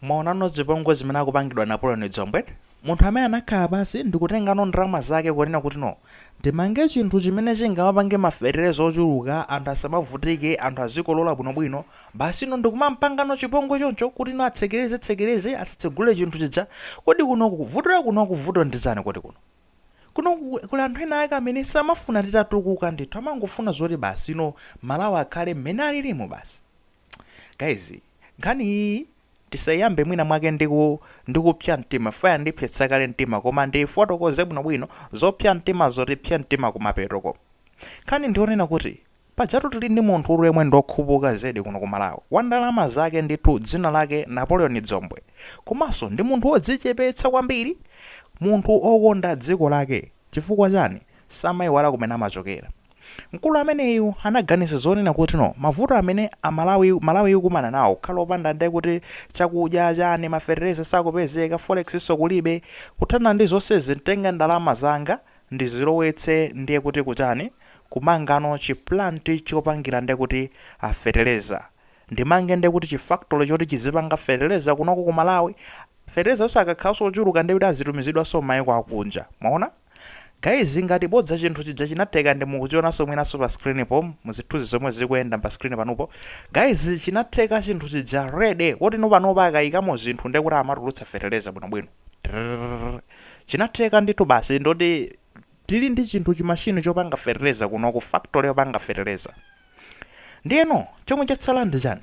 Mwaonano zipongwe zimene akupangidwa Napoleon Dzombe? Munthu amene anakhala pansi ndikutengano ndalama zake kunena kuti no ndimange chinthu chimene chingamapange ma fetereza ochuluka anthu asamavutike anthu azikolola bwino bwino basi no ndikumampangano chipongwe choncho kuti no atsekereze tsekereze asatsegule chinthu chija kodi kunoku vuto lakunoku vuto ndi chani kodi kuno kunoku kuli anthu ena ake amene samafuna titatukuka ndithu amangofuna zoti basi no Malawi akhale mmene alilimu basi guys Nkhani iyi ndisayiyambe mwina mwake ndi ku, ndi kupsya mtima chifukwa yandipsetsa kale mtima koma ndiyifotokoze bwino bwino, zopsya mtimazo ndipsya mtima kumapetoko. Nkhani ndi yonena kuti, pajatu tili ndi munthutu yemwe ndi okhupuka zedi kuno ku Malawi, wa ndalama zake ndithu dzina lake Napoleon Dzombe, komanso ndi munthu odzichepetsa kwambiri, munthu okonda dziko lake, chifukwa chani? Samayiwala kumene amachokera. Mkulu ameneyu anaganiza zonena kuti no mavuto amene a Malawi Malawi ikukumana nawo kukhala opanda nde kuti chakudya chani ma fetereza sakupezeka forex so kulibe kuthana ndi zonsezi nditenge ndalama zanga ndizilowetse ndiye kuti kuchani kumangano chi plant chopangira nde kuti a fetereza ndimange nde kuti chi factory choti chizipanga fetereza kunoko ku Malawi fetereza yo akakhalanso ochuluka nde kuti azitumizidwanso mmaiko akunja mwaona Guys ngati bodza chinthu chija chinatheka ndi mukuchionanso mwinanso pa screen po mu zithunzi zomwe zikuyenda pa screen panupo guys chinatheka chinthu chija ready kuti no panopa akayikamo zinthu ndi kuti amatulutsa fertilizer bwinobwino Trrrr. chinatheka ndithu basi ndoti tili ndi chinthu chimashini chopanga fertilizer kunoku factory yopanga fertilizer ndiyeno chomwe chatsala ndi chani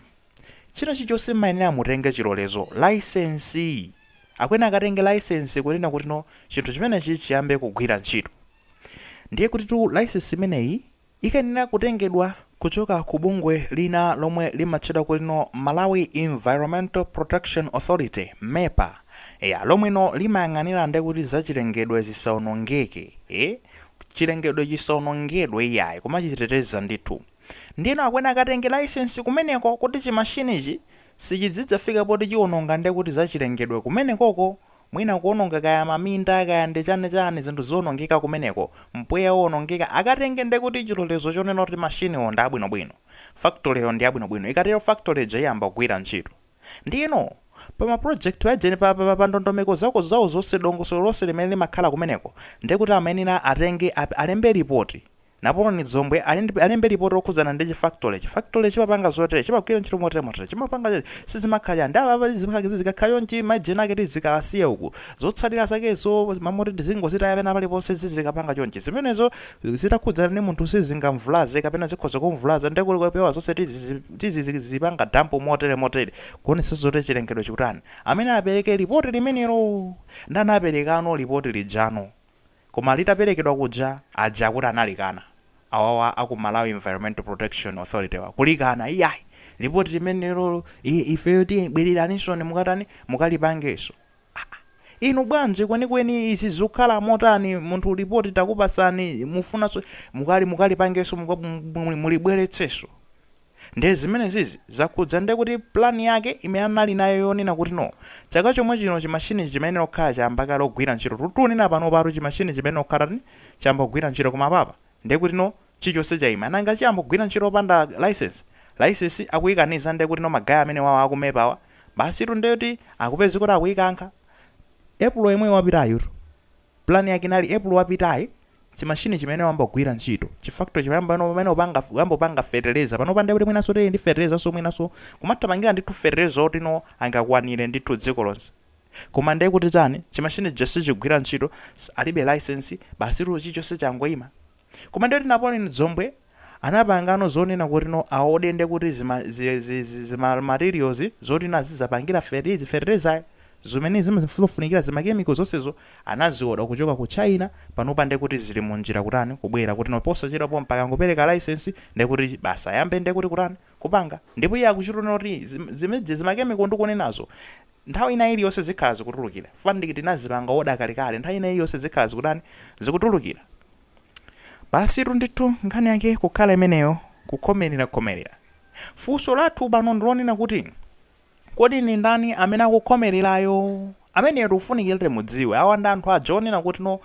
China chilichonse mmayenera mutenge chilolezo, licence. Akuyenera akatenge licence kunena kuti no chinthu chimenechi chiyambe kugwira ntchito. Ndiye kutitu licence imeneyi ikayenera kutengedwa kuchoka ku bungwe lina lomwe limatchedwa kuti no Malawi Environmental Protection Authority, MEPA, eya, lomwe no limayang'anira nde kuti za chilengedwe zisaonongeke, ee, chilengedwe chisaonongedwe iyayi, kumachiteteza ndithu. Ndiyeno akuyenera akatenge laisensi kumeneko kuti chimashinichi sichidzidzafika poti chiwononga nde kuti zachilengedwe kumenekoko mwina kuwononga kaya maminda kaya ndi chani chani zinthu ziwonongeke kumeneko, mpweya uwonongeke akatenge nde kuti chilolezo chonena kuti mashiniwo ndi abwinobwino, factoryyo ndi yabwinobwino ikatero factory ija iyamba kugwira ntchito. Ndiyeno pa ma project paja ine pa pa pa ndondomeko zako zawo zonse dongosolo lonse limene limakhala kumeneko nde kuti amayenera atenge alembe lipoti Napoleon Dzombe alembe lipoti lokhudzana ndi chi factory. Chi factory chimapanga zotere, chimagwira ntchito motere motere, chimapanga cho sizimakhala cha ndi apa apa zimakhala kizi zikakhala chonchi majena ake tizikawasiya uku. Zotsalira zakezo mmalo moti tizingozitaya pena paliponse zizikapanga chonchi. Zimenezo zitakhudzana ndi munthu sizingamvulaze kapena zikhoza kumvulaza nde kuti kupewa zonse tizizi tizikazipanga dump motere motere kuonetsetsa zoti chilengedwe chikutani. Amene apereke lipoti limenelo ndi anaperekano lipoti lijano. koma litaperekedwa kuja aja akuti analikana awawa aku Malawi Environmental Protection Authority wa, kulikana iyayi! Lipoti limenelolo i- ifeyo ti bwereraninso mukatani mukalipangenso. Aa! Inu bwanji kwenikweni izi zikukhala motani munthu lipoti takupatsani mufunanso mukali mukalipangenso muka- mu- mu- mulibweretsenso? Nde zimenezizi zakhudza nde kuti plan yake imene anali nayo yonena kuti no chaka chomwe chino chi machine chimayenera kukhala chayamba kale kugwira ntchito tu tunena panopatu chi machine chimayenera kukhala tani chayamba kugwira ntchito koma apapa nde kuti no chichonse chaima nanga chiyamba kugwira ntchito opanda licence licence akuikaniza nde kuti no ma guy amenewawa aku MEPA wa basitu nde kuti akupeza kuti akuikankha April yemwe wapitayu tu. Plan yake inali April wapitayi chi machine chimayenera kuyamba kugwira ntchito chi factory chimayenera kuyamba kupanga fertilizer panopa nde kuti mwinanso tili ndi fertilizer so mwinanso kumathamangira ndithu fertilizer otino angakwanire ndithu dziko lonse koma ndiye kuti chani chi machine chija sichigwira ntchito s- alibe license basitu chichonse changoyima koma ndiye kuti Napoleon Dzombe anapangano zonena kuti no aode nde kuti zima zi, zi, zi, zima materials zoti no azizapangira fertilizer, fertilizer zimene zimafunikira zima chemical zonsezo anazioda kuchoka ku China panopa nde kuti zili mu njira kutani kubwera kuti no posachedwa pompa akangopereka license nde kuti basi ayambe nde kuti kutani kupanga ndipo iye akuchitonena kuti zim, zime ji, zima chemical ndikunenazo nthawi ina iliyonse zikhala zikutulukira fukwa ndithu tinazipanga oda kalekale nthawi ina iliyonse zikhala zikutani zikutulukira Basitu ndithu nkhani yake kukhala imeneyo kukhomelera khomelera. Funso lathu pano ndilonena kuti Kodi ndi ndani amene akukhomelerayo? Ameneyo tikufunikira timudziwe. Awa ndi anthu aja onena kuti no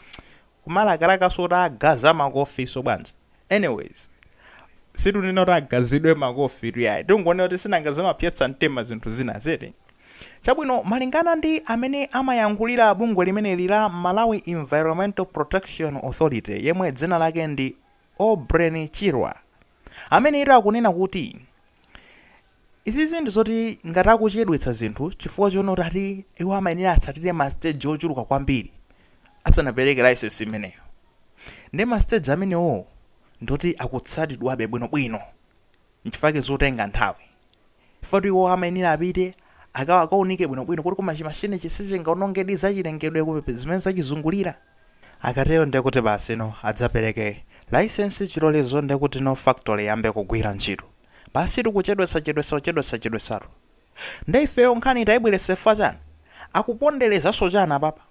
kumalakalakanso atagaza makofinso bwanji. Anyways, situnena kuti agazidwe makofi tu yayi. Tingonena kuti sinanga zimapsetsa mtima zinthu zinazi eti. Chabwino, malingana ndi amene amayankhulira bungwe limeneli la Malawi Environmental Protection Authority yemwe dzina lake ndi Aubrey Chirwa, ameneyu akunena kuti izizi ndi zoti ngati akuchedwetsa zinthu chifukwa chonena kuti ati iwo amayenera atsatire ma stage ochuluka kwambiri asanapereke license imeneyo. Nde ma stage amenewowo ndi oti akutsatidwabe bwinobwino nchifukwa chake zikutenga nthawi. Chifukwa iwo amayenera apite, aka, akawunike bwinobwino kuti koma chimashinichi sichingawonongedi zachirengedwe ku, zimene zachizungulira. Akatero ndiye kuti basi, no, adzapereke Layisensi, chilolezo, ndiye kuti no factory iyambe kugwira ntchito. Basitu kuchedwetsa, chedwetsa, kuchedwetsa, chedwetsatu. Ndiye ifeyo nkhani tayibweretsa chifukwa chani? Akuponderezanso chani apapa?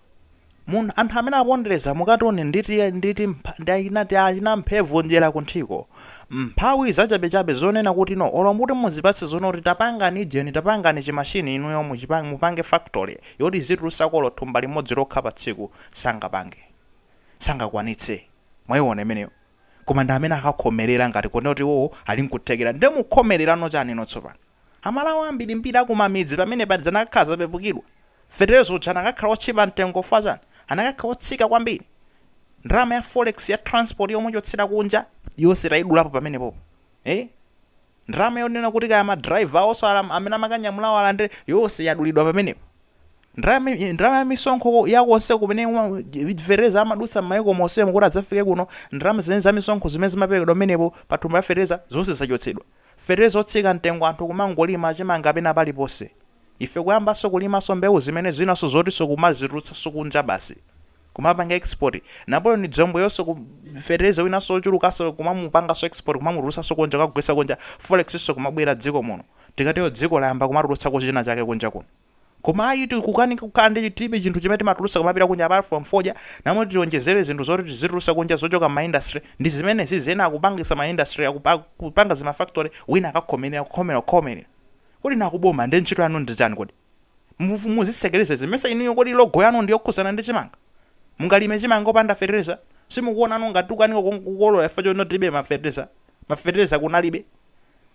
Munthu, anthu amene apondereza mukationa ndi ti, ndi ti, ndi achina, ti achina mphevu njera kunthiko. Mphawi zachabechabe zonena kuti no, olo muti muzipatse zonati tapangani ijeni, tapangani chi machine inuyo muchipange, mupange factory yoti izitulusako olo thumba limodzi lokha pa tsiku, sangapange. Sangakwanitse. Mwaiona imeneyo? Koma ndi amene akakhomelera ngati kunena kuti iwowo ali nkuthekera. Nde mukhomelerano chani inu tsopano? Amalawi ambirimbiri a kumamidzi pamenepa zi anakakhala zapepukidwa. Feteleza uja anakakhala otchipa mtengo chifukwa chani? Anakakhala otsika kwambiri. Ndalama ya forex ya transport yomuchotsera kunja yonse tayidulapo pamenepopo. Eeh? Ndalama yonena kuti kaya ma driver awonso alam, amene amakanyamulawo alandire yonse yadulidwa pamenepo. Ndalama, ndalama ya misonkho ya konse kumene ma, feteleza amadutsa mmayiko monsemu kuti adzafike kuno, ndalama zimenezo za misonkho zimene zimaperekedwa pamenepo pa thumba la feteleza zonse zachotsedwa. Feteleza otsika mtengo anthu kumangolima chimanga pena paliponse. Ife kuyambanso kulimanso mbewu zimene zinanso zotinso kumazitulutsanso kunja basi. Kumapanga export. Napoleon Dzombeyonso ku feteleza winanso ochulukanso kumamupanganso export kumamutulutsanso kunja kukagulitsa kunja, forex nso kumabwera dziko muno. Tikatero dziko layamba kumatulutsako china chake kunja kuno. Koma ayi tikukanika kukhala ndi tilibe chinthu chimene timatulutsa kumapita kunja apart from fodya, mmalo moti tionjezere zinthu zoti tizitulutsa kunja zochoka mma industry, ndi zimenezizi ena akupangitsa ma industry aku akupanga zima factory wina akakhomelera kukhomera kukhomera. Kodi inu akuboma nde ntchito yanu ndi chani kodi? Mufu muzitsekereza izi ndimesa inuyo kodi logo yanu ndi yokhudzana ndi chimanga? Mungalime chimanga opanda fetereza? Simukuona inu ngati tikukanika kukolora chifukwa choti tilibe ma fetereza? Ma fetereza kunalibe.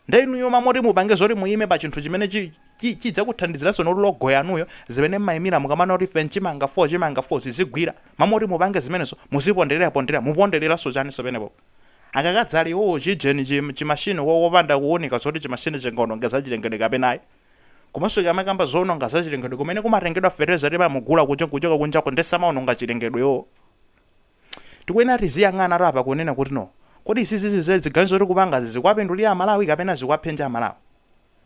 Nde inuyo ma moti mupange zoti muyime pa chinthu chimene chi chi chidzakuthandiziranso ndi logo yanuyo zimene mmayimira mukamanena kuti ife nchimanga 4 chimanga 4 zizigwira mmalo moti mupange zimenezo muziponderera ponderera mupondereranso chani so penepopo akakadzali iwowo chijeni chi chi machine ko kopanda kuwunika zoti chi machine chingaononge zachilengedwe kapena ayi komanso akamakamba zowononga zachilengedwe kumene kumatengedwa fertilizer timamugula kucho kuchoka kunjako nde samaononga chilengedwe iwowo tikuyenera tiziyang'ana tu apa kunena kuti no kodi izizi ziganizo tikupangazi zikuwapindulira amalawi kapena zikuwaphinja amalawi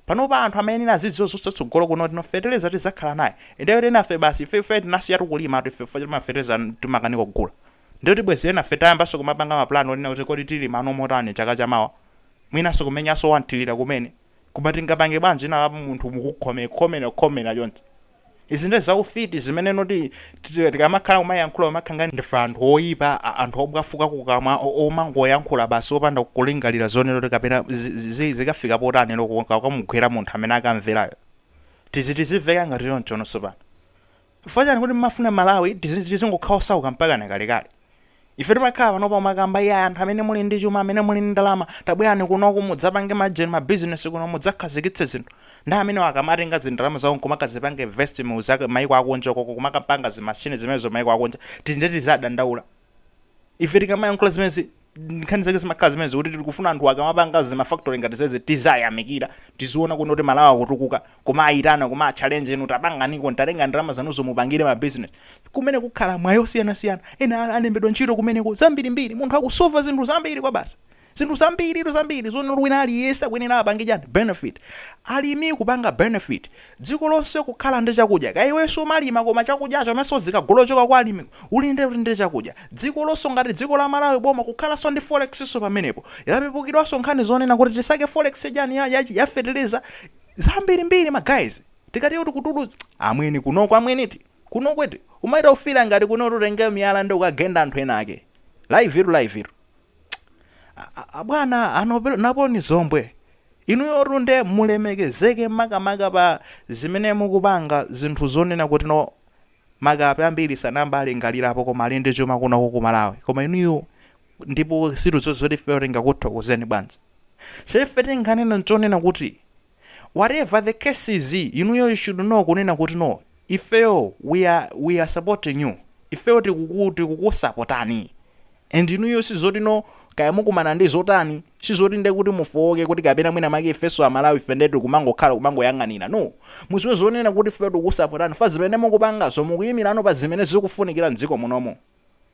panopa anthu amayenera azidziwa zotsogolo kuno kuti no feteleza tizakhala naye nde kuti enafe basi ife ife tinasiyatu kulima tu ife chifukwa choti mafeteleza timakanika kugula nde kuti bwezi enafe tayambanso kumapanga mapulani onena kuti kodi tilimano motani chaka chamawa mwinanso kumenyanso wanthirira kumene koma tingapange bwanji inu apa munthu mukukhome khomera khomera chonchi Izi nde zaufiti zimene noti tikamakhala kumayankhula timakhala ngati ndife anthu oipa a anthu obwafuka kukamwa o omangoyankhula basi opanda kulingalira zonena kuti kapena zi zi zi zikafika potani loko kukamugwera munthu amene akamverayo tizi tiziveka ngati choncho sopano chifukwa chani kuti mmafuna Malawi tizi tizingokhala osauka mpakana kalekale Ife timakhala pano kumakamba iyayi anthu amene muli ndi chuma amene muli ndi ndalama tabwerani kunoku mudzapange major ma business kuno mudzakhazikitse zinthu nde amenewo akamatenga zindalama zawo nkumakazipanga invest mu zimaiko akunja ukoko kumakapanga zi machine zimenezo maiko akunja eti nde tizadandaula ife tikamayankhula zimenezi nkhani zake zimakhala zimenezi kuti tikufuna anthu akamapanga zi ma factory ngati zizi tizayamikira tiziona kuno kuti Malawi akutukuka kumaitana kumawa challenge inu tapanganiko mutatenga ndalama zanuzo mupangire ma business kumene kukhala mwayi osiyanasiyana ena a- alembedwa ntchito kumeneko zambirimbiri munthu akusova zinthu zambiri kwa basi zinthu zambiritu zambiri zone uli wina aliyense akuyenera apange chani benefit alimi kupanga benefit dziko lonse kukhala ndi chakudya kaya iwenso umalima koma chakudyacho amanso zikagula kuchoka kwa alimi uli ndi ndi chakudya dziko lonse ngati dziko la malawi boma kukhalanso ndi forex so pamenepo yapepukidwanso nkhani zonena kuti tisake forex chani ya, ya, ya fertilizer zambirimbiri ma guys tikati kuti kutulutsa amwene kunoko amwene eti kunoko eti umaita ufira ngati kunotu utenge miyala nde ukagenda anthu ena ake live tu live tu abwana a Napoleon Dzombe inuyotu nde mulemekezeke makamaka pa zimene mukupanga zinthu zonena kuti no makape ambiri sanayambe alingalirapo koma ali ndi chuma kunoko ku malawi koma inuyo ndipo sitidziwa zoti ifeyo tingakuthokozeni bwanji so ife tinganena nchonena kuti whatever the case is inuyo you should know kunena kuti no ifeyo we are, we are supporting you ifeyo tikuku- tikukusapotani and inuyo sizoti no kaya mukumana ndi zotani sizoti nde kuti mufowoke kuti kapena mwina make ifeso amalawi ife nde tikumangokhala kumangoyang'anira no muziwe zonena kuti ifeyo tikukusapotani chifukwa zimene mukupangazo mukuyimilapo pa zimene zikufunikira mdziko munomo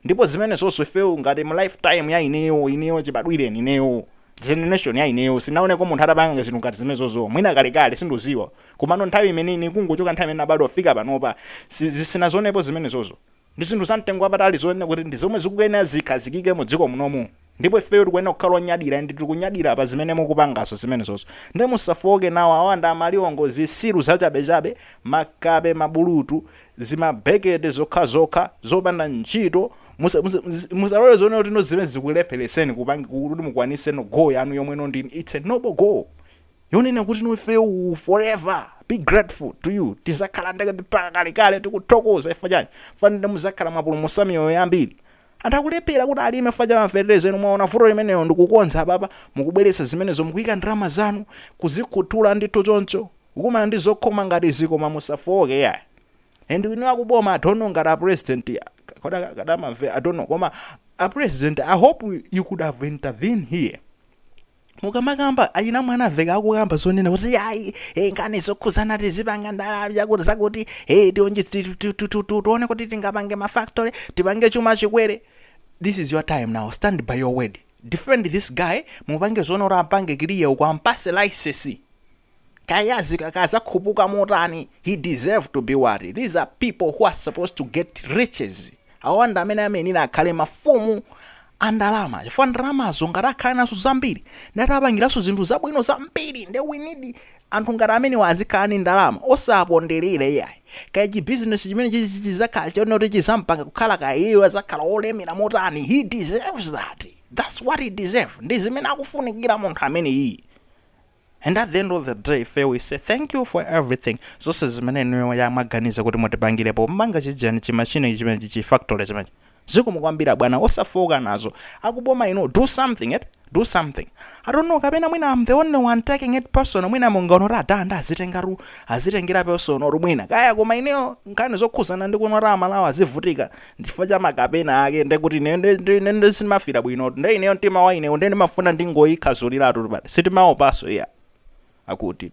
ndipo zimenezozo ifeyo ngati mu life time ya ineyo ineyo chibadwireni ineyo generation ya ineyo sinawoneko munthu atapanga zinthu ngati zimenezozo mwina kalekale sindikuziwa komano nthawi imene ine kungochoka nthawi imene nabadwa kufika panopa si, si, sinazionepo zimenezozo ndi zinthu za mtengo wapatali zonena kuti ndi zomwe zikuyenera zikhazikike mu dziko munomu ndipo ifeyo tikuyenera kukhala onyadira and tikunyadira pa zimene mukupangazo zimenezozo nde musafowoke nawo awa amaliwongo zisiru zachabechabe makape mabulutu zimabekete zokhazokha zopanda ntchito musa, musa, musa, musalole zonena kuti no zimene zikulepheretseni kupangi kuti mukwanise no goal yanu yomwe no ndi it's a noble goal yonena kuti no ifeyo we will forever be grateful to you tizakhala ndekuti mpaka kalekale tikuthokoza chifukwa chani chifukwa nde muzakhala mwapulumutsa miyoyo yambiri anthu akulephera kuti alime chifukwa cha mafertilizer inu mwaona vuto limenelo ndikukonza apapa mukubweretsa zimenezo mukuika ndalama zanu kuzikhuthula ndithu choncho kukumana ndi zokhoma ngati izi koma musafowoke yayi and inu akuboma i don't know ngati a president akadamamva i don't know koma a president i hope you could have intervened here mukamakamba achina Mwanamvekha akukamba zonena kuti ayi eh, nkhani zokhuzana tizipanga ndalama chakuti zakuti eh, tione ti- ti- ti- ti- ti- tione kuti tingapange mafactory tipange chuma chikwere this is your time now stand by your word defend this guy mupange zoona kuti ampange kiliya uko ampase license kaya azikakaya azakhupuka motani he deserve to be wealthy these are people who are supposed to get riches awa ndi amene amayenera akhale mafumu a ndalama chifukwa ndalamazo ngati akhale nazo zambiri ndati apangiranso zinthu zabwino zambiri nde we need anthu ngati amenewa azikhala ndi ndalama osaponderera iyayi kaya chibizinesi chimene chichi chizakhala choona kuti chizampanga kukhala kaya iye azakhala olemera motani he deserves that that's what he deserve ndi zimene akufunikira munthu amene iyi And at the end of the day ife we say thank you for everything zonse zimene inuyo mwaganiza kuti mutipangire pomanga chijani chimashini chimenechi chi factory chimenechi zikomo kwambiri abwana osafowoka nazo akuboma inu do something eti do something i don't know kapena mwina am the only one taking it personal mwina mungoona kuti adaa nde azitengatu azitengera personal mwina kaya koma ineyo nkhani zokhuzana ndi kunena kuti amalawi azivutika ndi chifukwa cha makape ena ake nde kuti ine nde- nde- nde- nde sindimamvira bwino nde ineyo mtima wa inewo nde ndimafuna ndingoyikhazuliratu but sitimaopaso iya akuti